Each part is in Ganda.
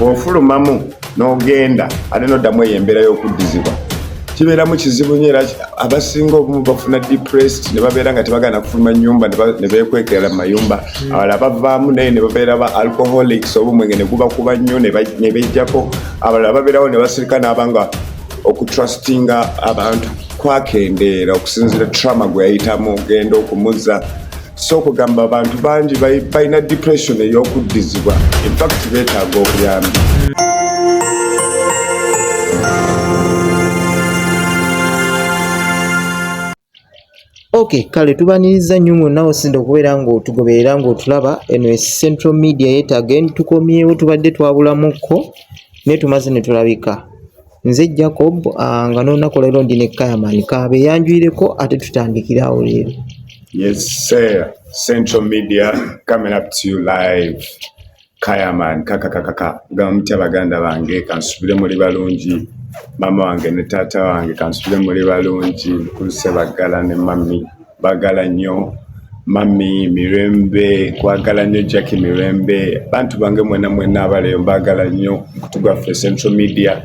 bw'ofulumamu n'ogenda ate n'oddamu eyo embeera y'okuddizibwa kibeeramu kizibu nyo era abasinga obumu bafuna depressed ne babeera nga tebagana kufuluma nyumba ne beekwekera mu mayumba hmm. abalala bavaamu naye ne babeera ba alcoholics obumwenge ne gubakuba nnyo ne bejjako abalala babeerawo ne basirika n'abanga okutrustinga abantu kwakendeera okusinzira trama gwe yayitamu ogenda okumuza si okugamba abantu bangi balina depression ey'okuddizibwa infact beetaaga obuyambi ok kale tubaniriza nnyo mwonna osinda okubeera ng'otugoberera ng'otulaba eno e central media yetagen tukomyewo tubadde twabulamuko naye tumaze ne tulabika nze jacob ah, nga nolunaku lero ndi ne kayaman kaabe yanjwireko ate tutandikire awo leero yes sir central media coming up to you live kayaman kakakakaka nga mutya baganda bange kansubire muli balungi maama wange ne taata wange kansubire muli balungi mukulu sebaggala ne mami bagala nnyo mami mirembe kwagala nnyo jacki mirembe bantu bange mwena mwena abaleyo mbagala nnyo mukutu gwaffe central media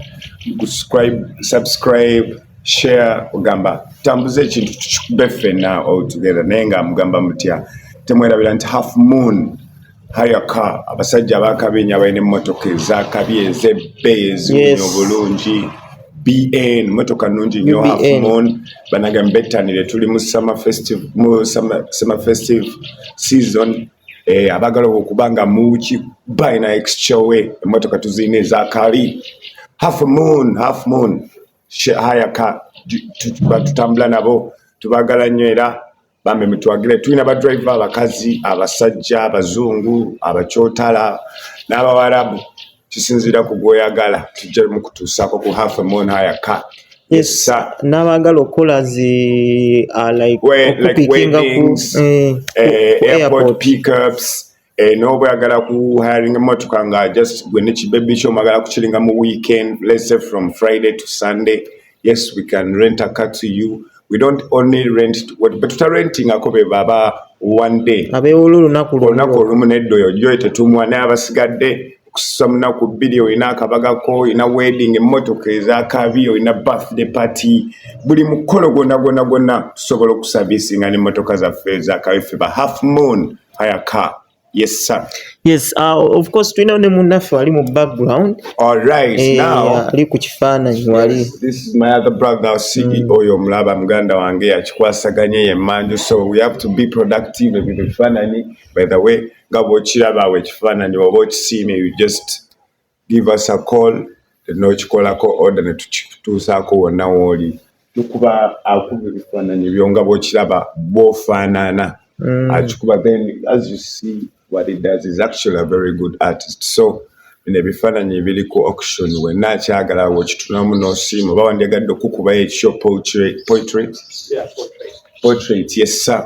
subscribe share ogamba tambuza ekintu tukikube ffena all together naye nga mugamba mutya temwerabira nti half moon haya ka abasajja abakabi enyo abalina emmotoka ezakabi ezebbe eziwunya obulungi bn motoka nungi nyo hafumon banage mbetanire tuli mu summer festive mu summer festive season eh, abagala okuba nga muki bayina exchowe emotoka tuziyina ezakabi half moon half moon haya ka tutambula nabo tubagala nyo era bambi mutwagire tulina badriver abakazi abasajja abazungu abakyotala n'abawarabu kisinziira ku gwoyagala tujja mukutuusaako ku half moon higher car yes sir n'abaagala okukola zi uh, like, like weddings, ku, eh, eh, airport, airport pickups eh, noba oyagala ku hiring emotoka nga just gwe ne kibebi kyo mwagala kukiringa mu weekend let's say from friday to sunday yes we can rent a car to you we don't only rent betutarentingako be baba one day abewola olunaku olunaku olumu nedda oyo joyo tetumwa naye abasigadde okususa munaku bbiri olina akabagako olina wedding emmotoka ezakabi olina birthday party buli mukolo gwona gwona gwona tusobola okusavisinga nemmotoka zaffe ezakabi ffe ba half moon haya car Yes, sir. Yes, uh, of course tulina ne munnaffe ali mu background. All right. Eh, now ali ku kifaananyi wali. Yes, this is my other brother Sigi mm. oyo omulaba muganda wange yakikwasaganye ye manju so we have to be productive with the ebifaananyi by the way nga bwokiraba awo ekifaananyi oba okisiimye you just give us a call nokikolako order netukituusaako wonna wooli tukuba akuba ebifaananyi byo nga bwokiraba bwofaanaana mm. akikuba then as you see what it does is actually a very good artist so bino ebifaananyi ebiri ku auction wenna akyagala wokitunamu nosiima oba wandyagadde okukubayo ekyo portrait portrait yes sir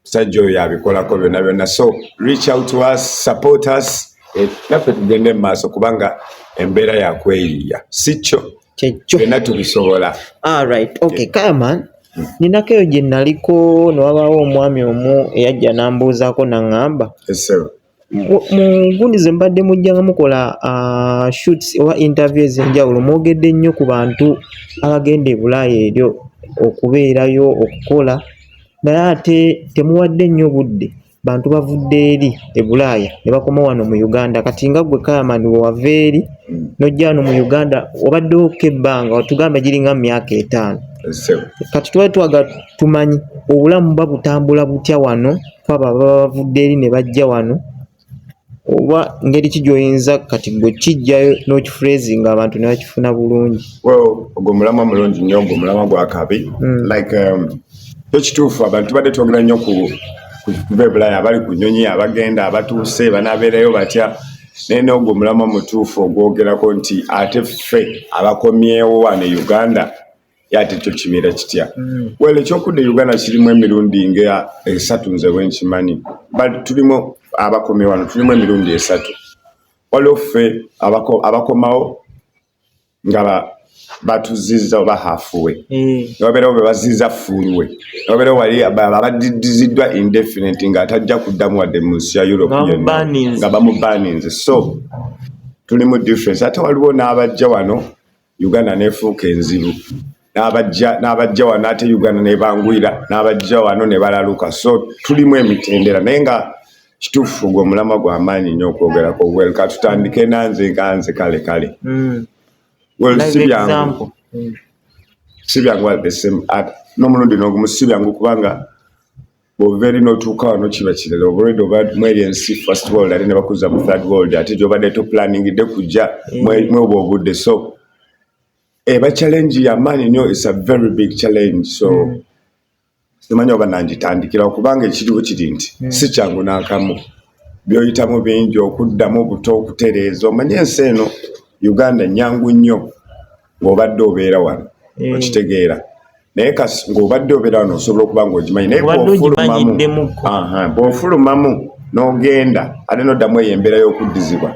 musajja oyo yabikolako byonna byonna so reach out to us support us eh, naffe tugende mu maaso kubanga embeera yakweyiiya si kyo byonna tubisobola alright ah, okay kaman hmm. ninako eyo gye naliko newabaawo omwami omu eyajja nambuuzaako naŋŋamba mu gundi ze mbadde mujja nga mukola uh, shoots oba interview ez'enjawulo mwogedde nnyo ku bantu abagenda ebulaaya eryo okubeerayo okukola naye ate temuwadde nnyo budde bantu bavudde eri ebulaaya ne bakoma wano mu uganda kati nga gwe kayamani wewava eri nojja wano mu uganda obaddewo ko ebbanga watugambe giringa mu myaka etaano kati twali twaga tumanyi obulamu ba butambula butya wano kuba baba bavudde eri ne bajja wano oba ngeri ki gy'oyinza kati gwe kijjayo n'okifurezi nga abantu ne bakifuna bulungi ogwo mulamwa mulungi nnyo ogwo mulamwa gwa kabi hmm. like um, kyo kituufu abantu tubadde twogera nnyo ku kuva ebulaya abali ku nyonyi abagenda abatuuse banabeerayo batya naye n'ogwo omulamwa mutuufu ogwogerako nti ate ffe abakomyewo wano e uganda yati ekyo kibeera kitya mm. well ekyokudda uganda kirimu emirundi nga esatu nze wenkimanyi but tulimu abakomye wano tulimu emirundi esatu waliwo ffe abakomawo nga batuziza oba hafuwe mm. newabeerawo bebaziza fuulwe newabeerawo wali abadidiziddwa indefinite nga atajja kuddamu wadde mu nsi ya europe nga bamubaninze so tulimu difference ate waliwo n'abajja wano Uganda nefuuka enzibu n'abajja n'abajja wano ate Uganda nebangwira n'abajja wano ne balaluka so tulimu emitendera naye nga kituufu gwe omulama gwa maanyi nnyo okwogerako wel katutandike nanze nkanze kale kale mm. wel si byangu si byangu at the same at n'omulundi n'ogumu si byangu kubanga bwovaeri notuuka wano kiba kirala obaolwedde oba mweri ensi first world ate nebakuza mu third world ate gyobadde toplaningidde kujja mm. mweoba obudde so eba challenge yamaanyi nnyo is a very big challenge so mm. simanya oba nangitandikirawo kubanga ekiriwo kiri nti mm. si kyangu nakamu byoyitamu bingi okuddamu obuto okutereeza omanye ensi eno uganda nyangu nnyo ng'obadde obeera wano eh. okitegeera naye kasi ng'obadde obeera wano osobola okuba ng'ogimanyi naye bwofulumamu n'ogenda ate n'oddamu eyo embeera y'okuddizibwa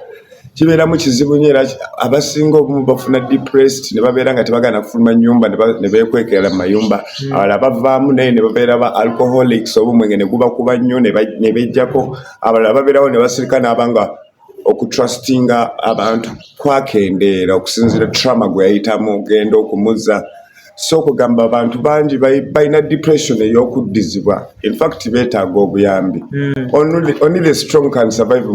kibeeramu kizibu nyo era abasinga obumu bafuna depressed ne babeera nga tebagana kufuluma nyumba ne beekwekerala mu mayumba hmm. abalala bavaamu naye ne babeera ba alcoholics obumwenge ne gubakuba nnyo ne bejjako abalala babeerawo ne basirika n'abanga okutrustinga abantu kwakendeera okusinzira trama gwe yayitamu ogenda okumuza so okugamba abantu bangi balina depression eyokuddizibwa infact betaaga obuyambi hmm. only the strong can survive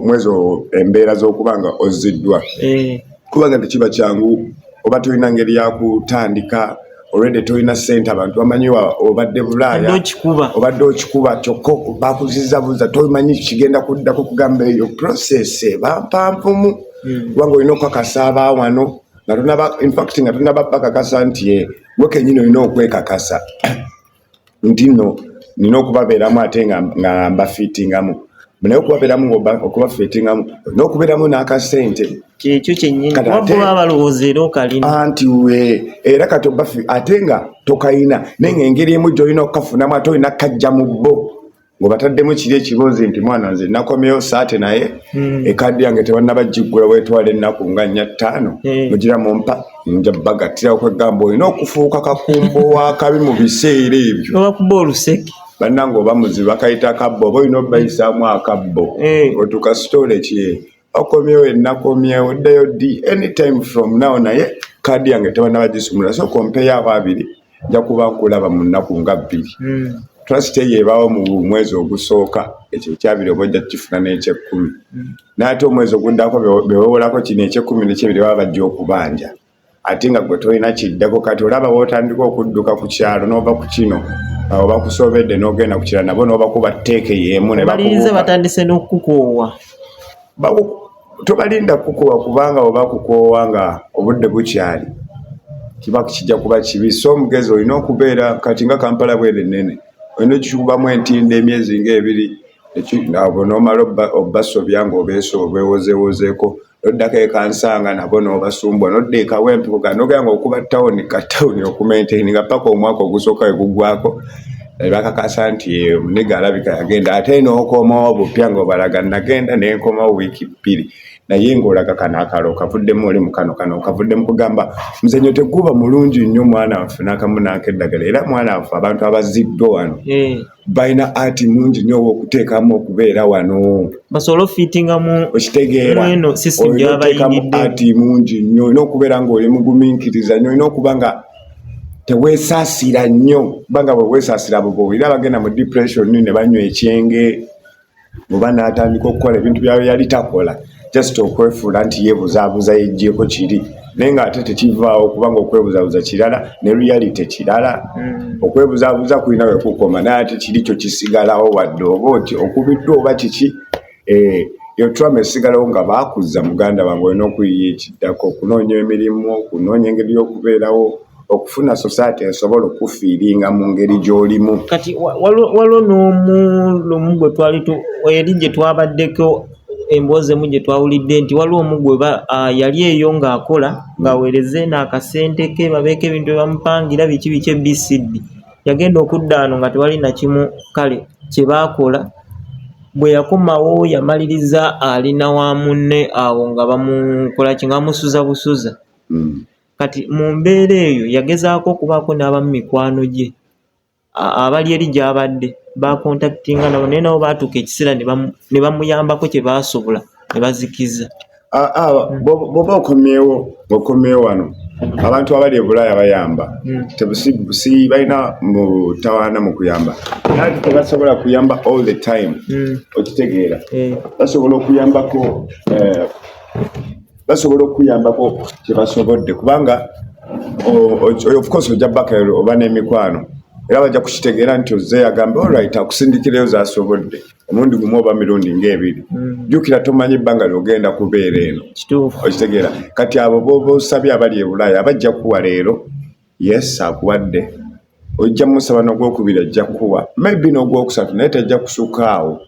mwezo embeera zokuba nga oziddwa eh. kubanga tekiba kyangu oba tulina ngeri yakutandika olwedde tolina sente abantu bamanyi obadde bulaaya obadde okikuba kyokka bakuzizabuza tomanyi kigenda kuddako kugamba eyo process bampanvumu hmm. kubanga olina okukakasa abaawano nga tunaba infact nga tunaba bakakasa nti eh, wekenyini olina okwekakasa nti no nina okubabeeramu ate nga mbafitingamu naye okubabeeramu okubafitingamu olina okubeeramu n'akasente kyekyo kyennyinianti we era kati obafi ate nga tokayina naye nga engeri emu gyolina okukafunamu ate olina kajja mu bbo ngobataddemu kiri ekibozi nti mwana nze nakomeyo saate naye hmm. ekadi yange tebannaba giggula wetwala ennaku nga nnya ttaano hmm. mugira mumpa nja bagattira okwegamba olina okufuuka kakumbo wakabi mu biseera ebyo obakuba oluseke bannange oba muzibu akayita akabbo oba olina obayisaamu akabbo eh. otuka sitoola ekye okomyewo enakomyewo ddayo ddi anytime from now naye kaadi yange tebanaba gisumula so kompeyo abo abiri nja kuba nkulaba mu nnaku nga bbiri hmm. trust eyo ebaawo mu mwezi ogusooka ekyo ekyabiri oba ojja kukifuna n'ekyekkumi hmm. naye ate omwezi oguddako bewewolako kino ekyekkumi nekyebiri baba bajja okubanja ate nga gwe tolina kiddako kati olaba wotandika okudduka ku kyalo n'ova ku kino awo bakusobedde n'ogenda ku kirala nabo n'obakuba tteeke y'emu nebalinze batandise n'okukukoowa tobalinda kukukoowa kubanga oba kukoowa nga obudde bukyali kiba kijja kuba kibi so omugezi olina okubeera kati nga kampala bwere nnene olina okikubamu entindo emyezi ngaebiri nomala obasobya ngaobeewozeewozeeko noddako ekansanga nabo nobasumbwa nodda ekawempe kuganogera nga okuba tawuni ka tawuni okumaintaini nga paka omwaka ogusooka wegugwako nebakakasa nti omuniga alabika yagenda ate nokomawo bupya nga obalaga nagenda nenkomawo wiiki bbiri naye ngaolaga kano akalo okavuddemu oli mukano kano okavuddemu kugamba muzanyo teguba mulungi nnyo mwana nffe nakamu nanka eddagala era mwana nffe abantu abaziddwa wano hmm. balina ati nungi nyo owokuteekamu okubeera wano basobole ofitingamu okitegeeraeno sisitemu gyabayingidde ati mungi nyo olina okubeera nga oli mugumiikiriza nyo olina okuba nga teweesaasira nnyo kubanga bwe weesaasira abo bowulira bagenda mu depression ne banywa ekyenge oba n'atandika okukola ebintu byayo yali takola just okwefuula nti yeebuzaabuza yeggyeko kiri naye ng'ate tekivaawo kubanga okwebuzabuza kirala ne reality kirala mm. okwebuzabuza kulina wekukoma naye ate kiri kyo kisigalawo wadde oba oti okubiddwa oba kiki eh, yotwama esigalawo nga baakuzza muganda wange olina okuyiya ekiddako okunoonya emirimu okunoonya engeri y'okubeerawo okufuna society esobola okufiiringa mu ngeri gy'olimu kati waliwo n'omu lumu gwe twali eri gye twabaddeko emboozi emu gye twawulidde nti waliwo omu gwe yali eyo ng'akola ng'aweereza eno akasente ke babeeko ebintu bye bamupangira biki biki ebcd yagenda okudda ano nga tewali nakimu kale kye baakola bwe yakomawo yamaliriza alina wa munne awo nga bamukolaki nga bamusuza busuza hmm. Kati mu mbeera eyo yagezaako okubaako n'abamu mikwano gye abali eri gy'abadde baakontakitinga nabo naye nabo baatuuka ekiseera ne bamuyambako kye baasobola ne bazikiza. Ah, ah, bwoba okomyewo okomyewo wano abantu abali ebulaaya bayamba hmm. tebusi balina mutawaana mu kuyamba nati tebasobola kuyamba all the time hmm. okitegeera eh. basobola okuyambako eh, basobola okuyambako kyebasobodde kubanga of course ojja baka oba n'emikwano era bajja kukitegeera nti ozze yagamba olrit akusindikireyo zasobodde omundi gumu oba mirundi ngaebiri mm. jjukira tomanyi ebbanga lyogenda kubeera eno okitegeera kati abo boba osabye abali ebulaaya abajja kuwa leero yes akuwadde ojja musaba nogwokubiri ajja kuwa maybe nogwokusatu naye tajja kusukaawo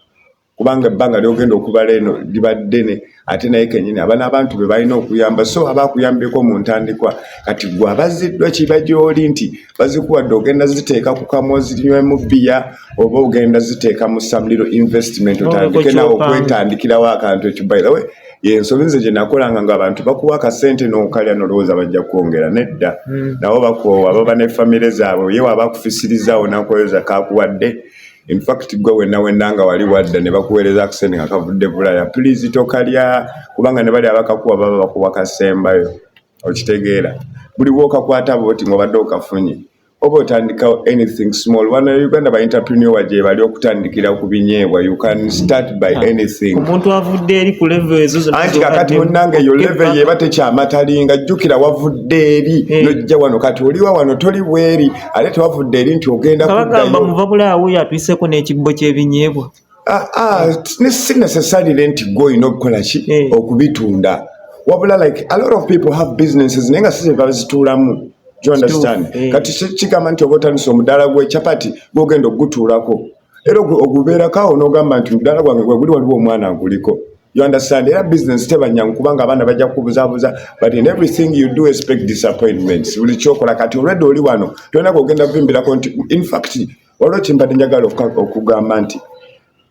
kubanga ebbanga lyogenda okubala eno liba ddene ate naye kenyini abana abantu be balina okuyamba so aba akuyambeko mu ntandikwa kati gwe abaziddwa kiba gyoli nti bazikuwadde ogenda ziteeka ku kamwa ozinywemu bbiya oba ogenda ziteeka mu samuliro investment otandike nawe okwetandikirawo akantu ekyo by the way yensobi nze gye nakolanga nga abantu bakuwa akasente n'okalya nolowooza bajja kukwongera nedda hmm. nawo bakoowa baba ne famire zaabwe yewe aba akufisirizaawo nakoyoza kakuwadde in fact gwe wenna wenna nga wali wadda ne bakuweereza akasente nga kavudde bulaya please tokalya kubanga ne bali abakakuwa baba bakuwa kasembayo okitegeera buli wokakwata boti ngaobadde okafunye oba otandikawo anything small wana uganda ba interpreneur gyebali okutandikira ku binyeebwa you can start by ah. anything omuntu avudde eri ku level ezo zonna anti kakati munnange eyo level yeba tekyamatalinga jjukira wavudde eri eh. nojja wano kati oliwa wano toli bweri ate tewavudde eri nti ogenda kabagamba muvabula awo yatwiseko n'ekibbo ky'ebinyeebwa ah, ah, si necessarily nti gwe olina okukola ki eh. okubitunda wabula like a lot of people have businesses naye nga si zebazituulamu you understand eh. kati kigamba nti oba otandisa omudaala gw'ekyapati gwogenda okugutuulako era ogubeerako awo n'ogamba nti mudaala gwange gweguli waliwo omwana nguliko you understand era business tebanyangu kubanga abaana bajja kubuzabuza but in everything you do expect disappointments buli kyokola kati olwedde oli wano tolina kogenda kuvimbirako nti infact waliwo kimbadde njagala okugamba nti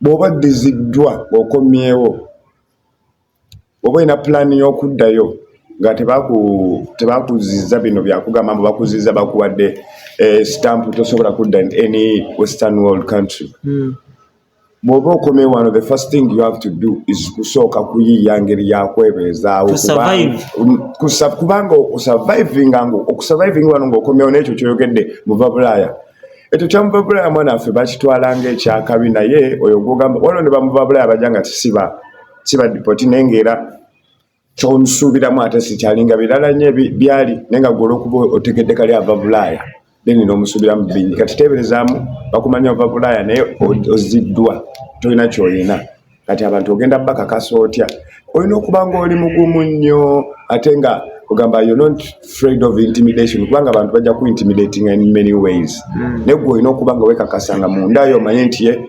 bw'oba ddiziddwa okomyewo Oba olina pulaani y'okuddayo nga tebakuziza bino bya kugamba mbu bakuziza bakuwadde eh, sitampu tosobola kudda any western world country hmm. bw'oba okomye wano the first thing you have to do is kusooka kuyiiya ngeri yakwebeezaawo kubanga okusurvivinga nga okusurvivinga wano ng'okomyewo n'ekyo kyoyogedde muva bulaaya ekyo kyamuva bulaaya mwana waffe bakitwala ng'ekyakabi naye oyo gwogamba wano ne bamuva bulaaya bajja nga kisiba siba dipoti naye ngaera kyonsuubiramu ate sikyalinga birala nyo byali naye nga gwola okuba otegedde kali ava bulaaya then nomusuubiramu bingi kati teeberezaamu bakumanya ova bulaaya naye oziddwa tolina kyoyina kati abantu ogenda bakakasa otya olina okuba nga oli mugumu nnyo ate nga ogamba yo not fraid of intimidation kubanga abantu bajja ku intimidating in many ways mm. naye gwe olina okuba nga wekakasa nga mundayo omanye nti ye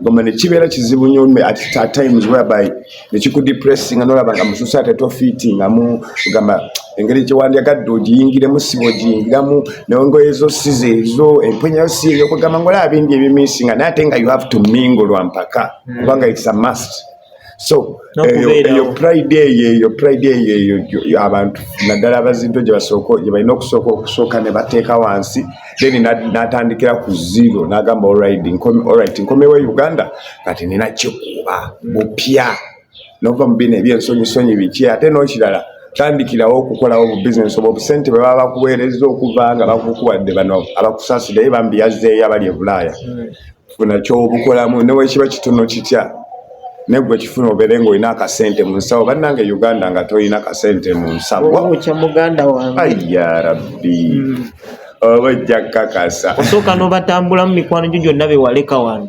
goma nekibeera kizibu nyo at times whereby nekikudepressinga nolaba nga mususa ate tofitingamu gamba engeri gyewandyagadde ogiyingiremu siba ogiyingiramu nengoye zo size ezo empunyayo si eyo kugamba ngaolaba bingi ebimisinga naye ate nga you have to mingo lwampaka kubanga it's a must so eyo pride eyo eyo pride eyo eyo abantu naddala abazinto gye basooka gye balina okusooka okusooka ne bateeka wansi then n'atandikira ku zero n'agamba olrid olrit nkomewo e uganda kati nina kikuba bupya nova mu bino ebyensonyisonyi biki ate n'okirala tandikirawo okukolawo obubizinesi obwo obusente bwe baba bakuweereza okuva nga bakukuwadde bano abakusaasideyo bambi yazzeeyo abali e bulaaya hmm. funa kyobukolamu newekiba kitono kitya negwe kifuna obere nga olina akasente mu nsawo bannange uganda nga tolina kasente mu nsawo ya rabbi hmm. oba ojja kukakasa osooka nobatambulamu mikwano gyo gyonna bewaleka wano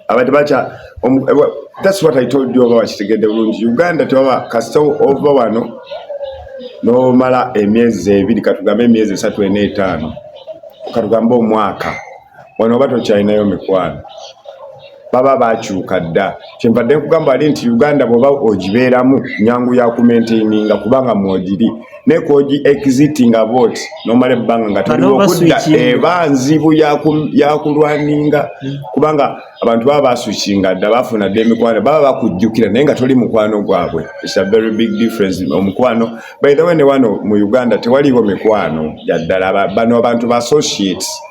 abantu bakya eh, that's what i told you oba wakitegedde bulungi uganda tewaba kasita ova wano nomala emyezi ebiri katugambe emyezi esatu ena etaano katugambe omwaka wano oba tokyalinayo mikwano baba bakyuka dda kyenvadde nkugamba ali nti uganda bwoba ogibeeramu nyangu ya kumentaininga kubanga mwogiri naye koji exiti nga booti nomala ebbanga nga toliwo okudda eba nzibu yakulwaninga hmm. kubanga abantu baba basukinga dda bafuna dda emikwano baba bakujjukira naye nga toli mukwano gwabwe its a very big difference omukwano by the way ne wano mu uganda tewaliwo mikwano gyaddala bano abantu ba associates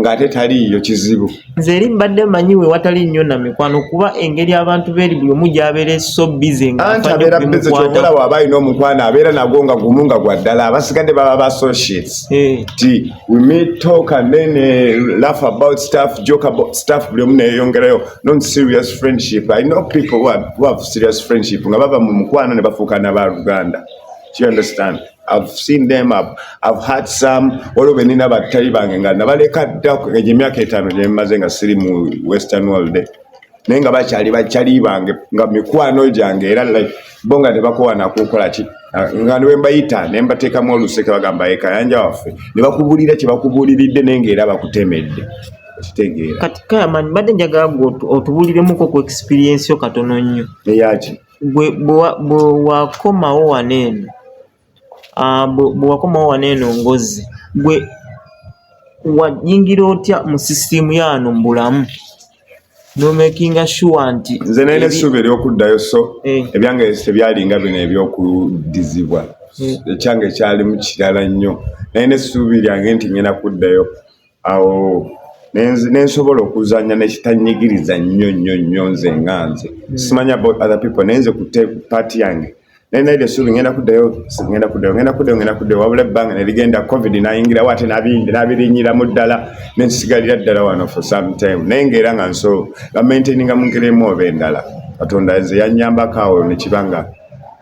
ng'ate taliiyo kizibu nze eri mbadde manyi we watali nnyo na mikwano kuba engeri abantu beeri buli omu gyabeera eso bize ngaanti abeera bize kyokola waaba alina omukwano abeera nagwo nga gumu nga gwa ddala abasigadde baba ba associates eh. ti we meet talk and then eh, laugh about stuff joke about stuff buli omu neyeyongerayo non serious friendship i know people who have serious friendship nga baba mu mukwano ne bafuuka na ba luganda you understand I've seen them up. I've had some waliwo benina battali bange nga nabaleka dda egyo emyaka etaano gye mmaze nga siri mu western world naye nga bakyali bakyali bange nga mikwano gyange era like bo nga tebakowa nakukola ki nga ne mbayita ne mbateekamu oluseke bagamba ye kayanja waffe ne bakubuulira kye bakubuuliridde naye nga era bakutemedde kitegeera kati kayamani mbadde njagala gwe otubuuliremuko ku experience yo katono nnyo eyaki gwe bwewakomawo wano eno ah, bwewakomawo wano eno ngozi gwe wayingira otya mu sisitiimu yaano mu bulamu nomakinga sure nti nze naina essuubi eryokuddayo so eh. ebyange tebyalinga bino ebyokudizibwa eh. ekyanga ekyalimu kirala nnyo naye nesuubi lyange nti ngenda kuddayo awo nensobola okuzanya nekitanyigiriza nnyo nnyo nnyo nze nga nze hmm. simanyi about other people naye nze kute paati yange naye naye esuubi ngenda kuddayo ngenda kuddayo ngenda kuddayo ngenda kuddayo wabula ebbanga nerigenda covid nayingirawo ate nabirinyiramu ddala nensigalira ddala wano for some time naye ngaera nga nso bamaintaininga mu ngeri emu oba endala katonda nze yanyambako awo nekibanga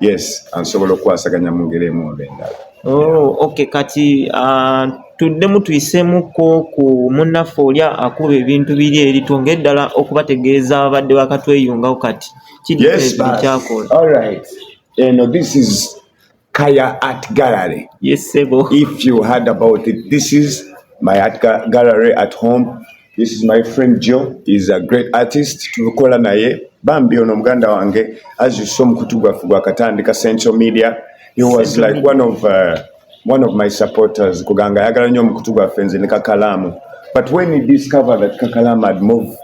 yes ansobola okukwasaganya mu ngeri emu oba endala Oh, okay kati uh, tuddemu tuyiseemuko ku munnaffe oli akuba ebintu biri eri twongere ddala okubategeeza abadde bakatweyungawo kati kidikyakola eno this is kaya art gallery yes, if you heard about it this is my art gallery at home This is my friend Joe is a great artist tukola naye bambi ono muganda wange as you saw mukutu gwaffe gwakatandika central media he was Central like one of uh, one of my supporters kuganga ayagala nnyo omukutu gwaffe nze ne kakalaamu but when he discovered that kakalaamu had moved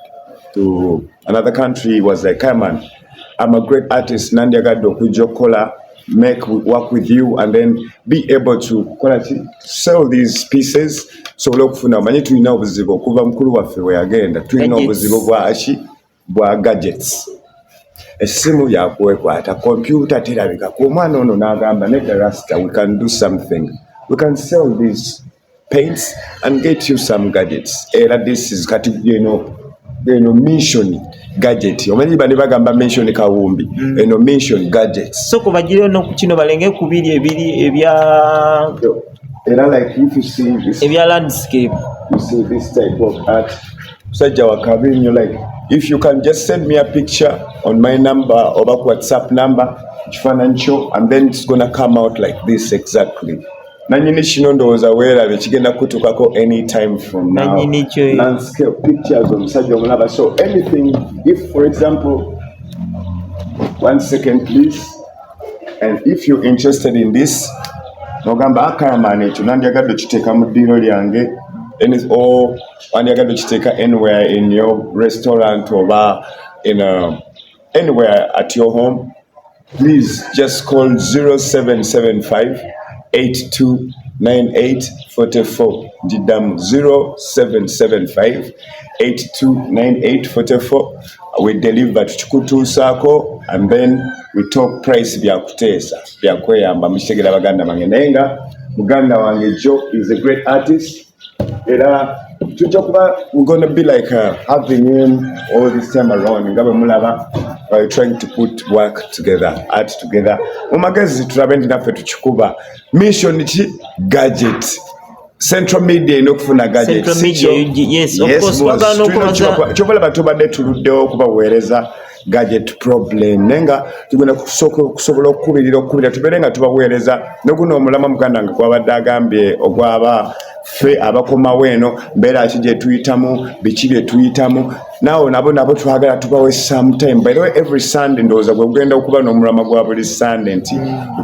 to another country he was like come on I'm a great artist nandyagadde okujja okukola make work with you and then be able to kola ki sell these pieces tusobole okufuna omanyi tulina obuzibu okuva mukulu waffe bwe yagenda tulina obuzibu bwaki bwa gadgets essimu yakwekwata kompyuta terabika ku omwana ono n'agamba nedda rasta we can do something we can sell these paints and get you some gadgets era this is kati eno eno mission gadget omanyi bane bagamba mission kawumbi mm. eno mission gadget so kubagire no kukino balenge kubiri ebiri ebya era like if you see this ebya landscape you see this type of art sajja wakabi nyo like if you can just send me a picture on my number or back whatsapp number kifanancho and then it's gonna come out like this exactly nanyini kino ndowooza weerabye kigenda kutuukako anytime from nowlandscape pictures omusajja omulaba so anything if for example one second please and if you're interested in this nogamba akayamaana ah, ekyo nandyagadde okiteeka mu ddiiro lyange nso wandyagadde okiteeka anywhere in your restaurant oba in a, uh, anywhere at your home please just call 0775 829844 ndiddamu 0775 829844 we deliver tukikutuusaako and then we talk price byakuteesa byakweyamba mukitegera baganda bange naye nga muganda wange jo is a great artist era tujja kuba we're gonna be like uh, having him all this time around nga bwe mulaba by trying to put work together art together mu magezi tulabe nti naffe tukikuba mission ki gadget central media eno okufuna gadgetskyobalaba tubadde tuluddewo okubaweereza gadget problem naye nga tugenda kusobola okukubirira okukubira tubeere nga tubaweereza noguno omulama muganda nga gwabadde agambye ogwaba ffe abakomawo eno mbeera ki gyetuyitamu biki byetuyitamu naawe nabo nabo twagala tubawe sometime by the way every sunday ndowooza gwe gugenda okuba n'omulama gwa buli sunday nti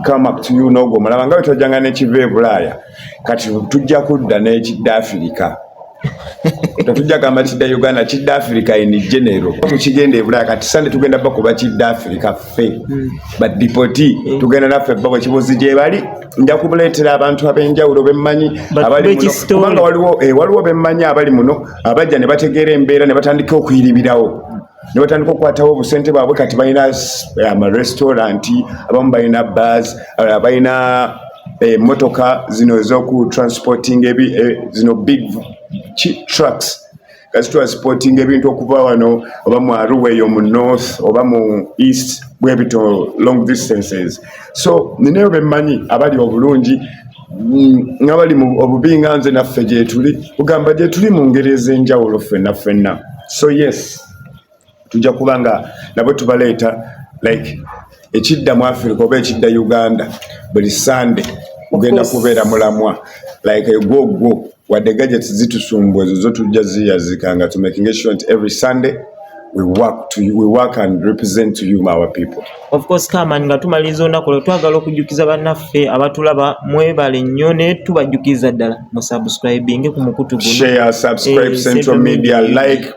come up to you n'ogwo omulama nga bwe twajjanga n'ekiva e bulaaya kati tujja kudda n'ekidda afirika tetujja gamba kidda uganda kidda africa in general tukigenda ebulaya kati sande tugenda bakuba kidda africa ffe hmm. badipoti hmm. tugenda naffe babo kibuzi gyebali nja kubuleetera abantu ab'enjawulo bemmanyi abalikubanga waliwo eh, waliwo bemmanyi abali muno abajja ne bategeera embeera ne batandika okuyiribirawo ne batandika okukwatawo obusente bwabwe kati balina eh, amarestaurant abamu balina bas abalala balina emotoka eh, zino ezoku transporting ebi eh, zino big trucks kasitwa sporting ebintu okuva wano oba mu aruwa eyo mu north oba mu east bwebito long distances so nineyo bemmanyi abali obulungi mm, nga bali mu obubi nga nze naffe gyetuli kugamba gyetuli mu ngeri ez'enjawulo ffenna ffenna so yes tujja kuba nga nabo tubaleeta like ekidda mu africa oba ekidda uganda buli sande ogenda kubeera mulamwa like egwogwo wadde gadgets zitusumbu ezo zo tujja ziyazika nga tumakinge sure nti every sunday we work to you, we work and represent to you our people of course kaman nga tumaliriza olunaku lwe twagala okujjukiza bannaffe abatulaba mwebale nnyo ne tubajjukiza ddala mu subscribing ku mukutu guno share subscribe eh, central media like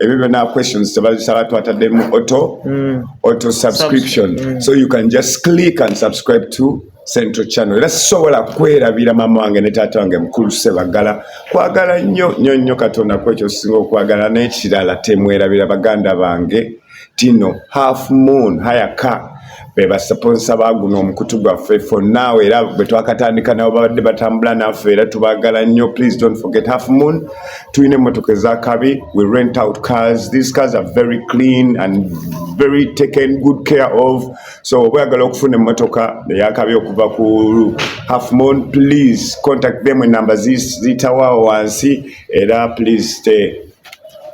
ebyo byona questions tebazisaba twataddemu auto mm. auto subscription mm. so you can just click and subscribe to central channel era sisobola kwerabira maama wange ne taata wange mukulu sebaggala kwagala nnyo nnyo nnyo katonda kwekyo sisinga okwagala n'ekirala temwerabira baganda bange tino half moon haya ka bebasaponsa baguno omukutu gwaffe for now era bwetwakatandika nabo babadde batambula naffe era tubagala nnyo please don't forget half moon tulina emotoka ezakabi we rent out cars these cars are very clean and very taken good care of so oba oyagala okufuna emotoka eyakabi okuva ku half moon please contact them enumber zitawawo wansi era please stay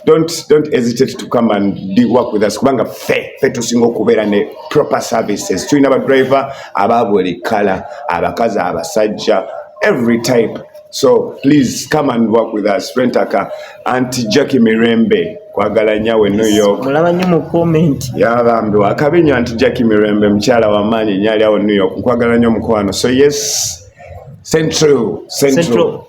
don't don't hesitate to come and be work with us kubanga fe fe tusinga okubeera ne proper services tulina ba driver aba buli kala abakazi abasajja every type so please come and work with us rentaka anti jacki mirembe kwagala nyawe new york mulaba nyo mu comment yabambi wakabi nyo anti jacki mirembe mukyala wamaanyi nyali awo new york nkwagala nyo mukwano so yes central central, central.